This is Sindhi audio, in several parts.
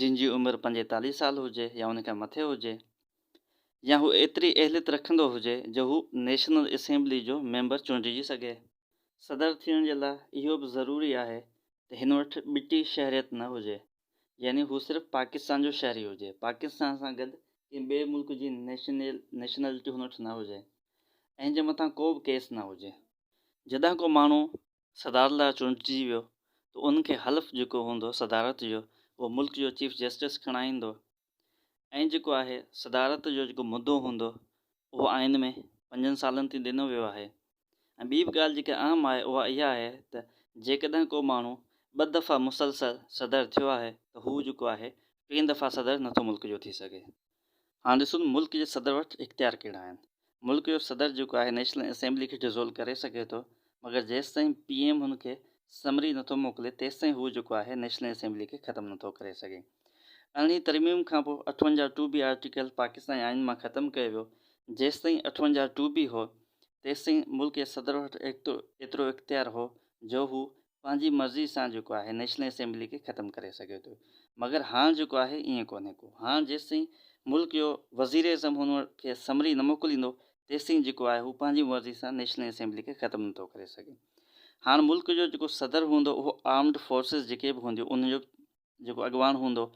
جن جي عمر پنجيتاليهه سال هجي يا ان کان مٿي هجي يا هو ايتري اهليت رکندو هجي جو هو نيشنل اسيمبلي جو ميمبر چونڊجي سگهي. صدر ٿيڻ جي لاء اهو به ضروري آهي ته هن وٽ ٻٽي شهريت نه هجي يعني هو صرف پاڪستان جو شهري هجي، پاڪستان سان گڏ ڪنهن ٻئي ملڪ جي نيشنلٽي هن وٽ نه هجي ۽ هن جي مٿان ڪو به ڪيس نه هجي. جڏهن ڪو ماڻهو صدارت لاء چونڊجي ويو ته ان کي حلف جيڪو هوندو صدارت جو اهو ملڪ جو چيف جسٽس کڻائيندو ۽ جيڪو آهي صدارت جو جيڪو مدو هوندو اهو آئين ۾ پنجن سالن تي ڏنو ويو آهي ۽ ٻي به ڳالهه جيڪا اهم آهي اها اها آهي ته جيڪڏهن ڪو ماڻهو ٻه دفعا مسلسل صدر ٿيو آهي ته هو جيڪو آهي ٽين دفعا صدر نٿو ملڪ جو ٿي سگهي. هاڻ ڏسون ته ملڪ جي صدر وٽ اختيار ڪهڙا آهن. ملڪ جو صدر جيڪو آهي نيشنل اسيمبلي کي ڊزولو ڪري سگهي ٿو مگر جيستائين پي ايم هن کي سمري نٿو موڪلي تيستائين هو جيڪو آهي نيشنل اسيمبلي کي ختم نٿو ڪري سگهي. ارڙهين ترميم کانپوء اٺونجاهه ٽو بي آرٽيڪل پاڪستاني آئين مان ختم ڪيو ويو جيستائين اٺونجاهه ٽو بي هو تيستائين ملڪ جي صدر وٽ ايترو اختيار هو جو هو پنهنجي مرضي سان جيڪو آهي نيشنل اسيمبلي کي ختم ڪري سگهي ٿو مگر هاڻ جيڪو آهي ائين ڪونهي ڪو هاڻ جيستائين ملڪ جو وزير اعظم هن کي سمري نه موڪليندو تيستائين جيڪو آهي هو پنهنجي مرضي سان نيشنل اسيمبلي کي ختم نه ٿو ڪري سگهي هاڻ ملڪ جو جيڪو صدر هوندو اهو آرمڊ فورسز جيڪي به هونديون انهن جو جيڪو اڳواڻ هوندو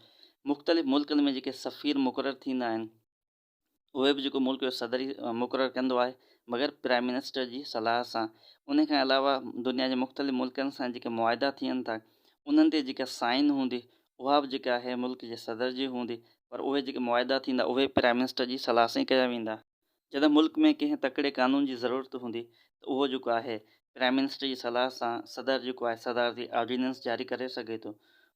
مختلف ملڪن ۾ جيڪي سفير مقرر ٿيندا آهن اهي به جيڪو ملڪ جو صدر ئي مقرر ڪندو آهي بغير پرائم منسٽر جي صلاح سان. انهي کان علاوه دنيا جي مختلف ملڪن سان جيڪي معاهدا ٿين ٿا انهن تي جيڪا سائن هوندي اها به جيڪا آهي ملڪ جي صدر جي هوندي پر اهي جيڪي معاهدا ٿيندا اهي پرائم منسٽر جي صلاح سان ئي ڪيا ويندا. جڏهن ملڪ ۾ ڪنهن تڪڙي قانون جي ضرورت هوندي ته اهو جيڪو آهي پرائم منسٽر جي صلاح سان صدر جيڪو آهي صدارتي آرڊيننس جاري ڪري سگهي ٿو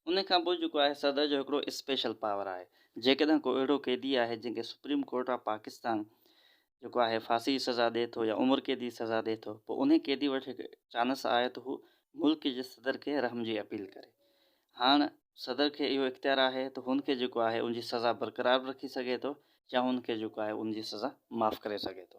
ان کان پوء جيڪو آهي صدر جو هڪڙو اسپيشل پاور آهي جيڪڏهن ڪو اهڙو قيدي آهي جنهن کي سپريم ڪورٽ آف پاڪستان جيڪو آهي ڦاسي جي سزا ڏي ٿو يا عمر قيدي جي سزا ڏي ٿو پوء انهي قيدي وٽ هڪ چانس آهي ته هو ملڪ جي صدر کي رحم جي اپيل ڪري هاڻ صدر کي اهو اختيار آهي ته هن کي جيڪو آهي ان جي سزا برقرار به رکي سگهي ٿو يا هن کي جيڪو آهي ان جي سزا معاف ڪري سگهي ٿو.